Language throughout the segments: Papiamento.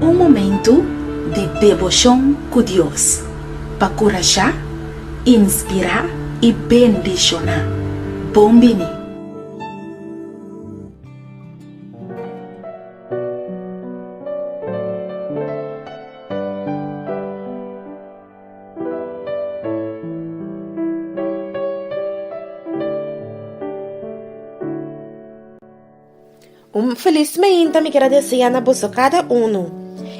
Un momentu di deboshon ku Dios pa kurashá, inspirá i bendishoná. Bon bini! Un felis meinta mi kira desea na boso kada unu.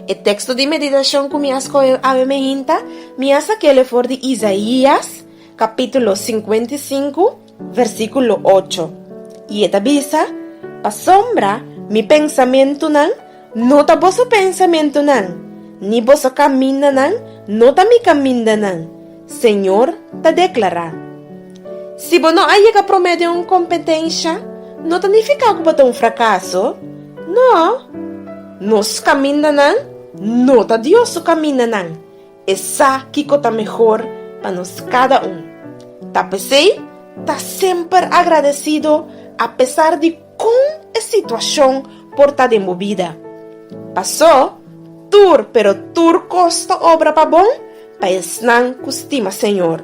E teksto di meditashon ku mi a skohe awe meinta, mi a sakele for di Isaías, kapítulo 55, Versíkulo ocho, i e ta bisa, Pasobra mi pensamentunan no ta boso pensamentunan, ni boso kamindanan no ta mi kamindanan, Señor ta deklará. Si bo no a yega promé den un kompetensha, no ta nifiká ku bo ta un frakaso. No. Nos kamindanan no ta Dios su kamindanan. E sa kiko ta mehor pa nos kada un. Ta p'esei, ta semper agradesido apesar di kon e situashon por ta den bo bida. Pasó, tur, pero tur kos ta obra pa bon pa esnan ku stima Señor.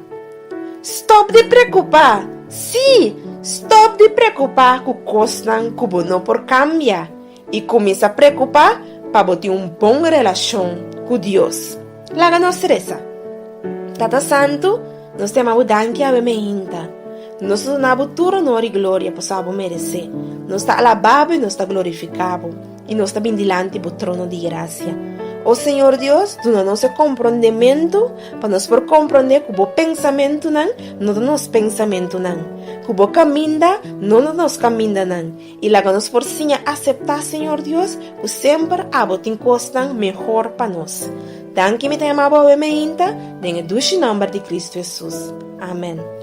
Stòp di preokupá, sí, stòp di preokupá ku kosnan ku bo no por kambia. I kuminsá preokupá pa bo tin un bon relashon ku Dios. Laga nos resa, Tata Santu, nos ta yama bo danki awe mainta. Nos ta duna bo tur onor i gloria pasobra bo meresé. Nos ta alabá bo i nos ta glorifiká bo, i nos ta bin dilanti bo trono di grasia. O Señor Dios, duna nos e komprondementu pa nos por komprondé ku bo pensamentunan no ta nos pensamentunan, ku bo kaminda no ta nos kamindanan, I laga nos por siña aseptá, Señor Dios, ku semper abo tin kosnan mehor pa nos. Danki mi ta yama bo awe meinta, den e dushi nòmber di Kristu Hesus. Amèn.